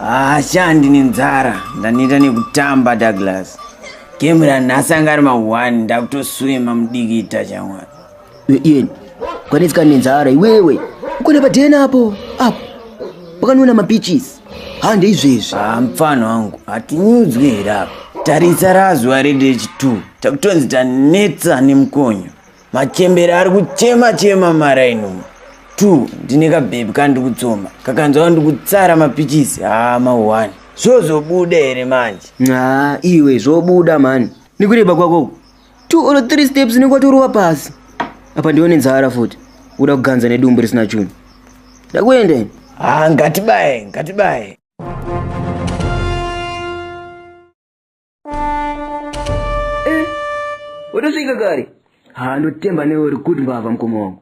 hashandi ah, nenzara ndaneta nekutamba douglas game ranhasi anga ari ma1 ndakutoswima mudikita chamwari Ian, kwanetsika nenzara iwewe. Ukona padena apo. Apo. Pakanona mapichis. Hande izvezvi. Ah, mfana wangu, hatinyudzwe here apa. Tarisa razuva reDH2. Takutonzi tanetsa nemukonyo. Machembere ari kuchema chema marainuma. Two, ndine kabhebhi kandiri kutsoma. Kakanzwa kandiri kutsara mapichisi. Ah, mahwani. Zvozobuda here manje? Ah, iwe zvobuda mani. Nikureba kwako. two or three steps unenge watorova pasi apa ndione nzara futi uda kuganza nedumbu risina chunhu ndakuenda ini haa ngatibaye ngatibaye watosvika kare haa ndotemba newe uri good mbavha mukoma wangu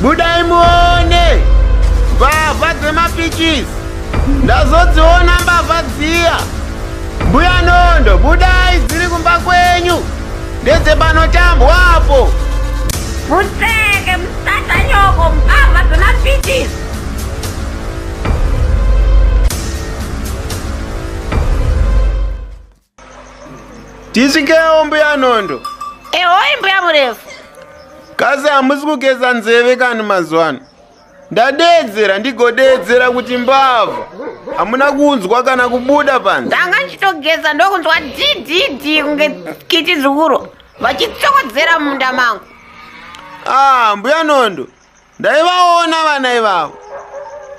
Budai muone mbavha dzemapichisi, ndazodziona mbavha dziya. Mbuya Nondo, budai dziri kumba kwenyu, ndedzepanotambwa apo. Mutseke musatanyoko mbavha dzemapichisi. Tisvikewo mbuya Nondo. Ehoi mbuya murefu. Kasi hamusi kugeza nzeve kani mazuva ano? ndadeedzera ndigodeedzera kuti mbavha hamuna kunzwa kana kubuda panze ndanga ndichitogeza ndokunzwa dididi kunge kiti zukuro vachitsokodzera munda mangu ah mbuya nondo ndaivaona vana ivavo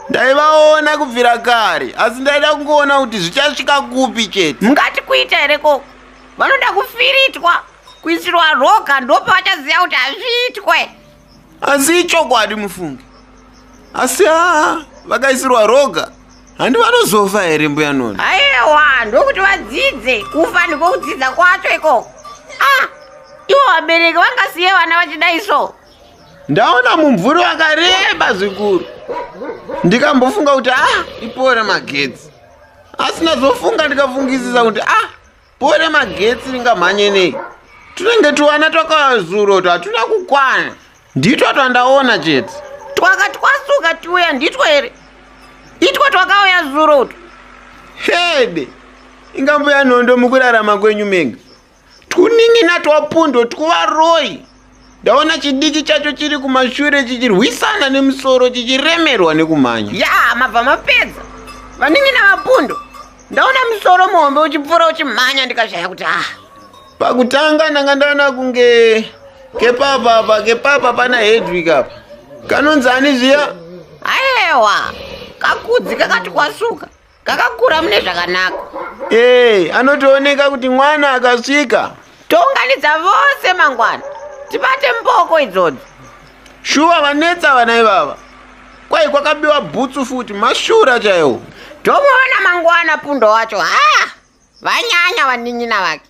ndaivaona kubvira kare asi ndaida kungoona kuti zvichasvika kupi chete mungati kuita here ko vanoda kufiritwa kuisirwa roga ndopevachaziva kuti hazviitwe asi ichokwadi mufunge asi haa vakaisirwa roga handi vanozofa here mbuya noni aiwa ndokuti vadzidze kufa ndiko kudzidza kwacho ikoko a ah, ivo vabereki vangasiye vana vachidai so ndaona mumvuri wakareba zvikuru ndikambofunga kuti ah ipore magetsi asi nazofunga ndikafungisisa kuti ah pore magetsi ringamhanye nei tunenge tuwana twakazuro twatuna kukwana nditwo twandaona chete twaka twasuka tiuya nditwo here itwo twakauya zuro utwo hede ingambuya nhondo mukurarama kwenyu menga twunin'ina twapundo twuvaroi ndaona chidiki chacho chiri kumashure chichirwisana nemusoro chichiremerwa nekumhanya ya mabva mapedza vanin'ina vapundo ndaona musoro muhombe uchipfuura uchimhanya ndikashaya kuti ah pakutanga ndanga ndaona kunge kepapa apa kepapa pana hedwig apa kanonzi ani zviya ayewa kakudzi kakati kwasuka kakakura mune zvakanaka ee eh, anotooneka kuti mwana akasvika tounganidza vose mangwana tibate mboko idzodzo shuwa vanetsa vana ivava kwai kwakabiwa bhutsu futi mashura chaiwo tomuona mangwana pundo wacho haa vanyanya vanin'ina vake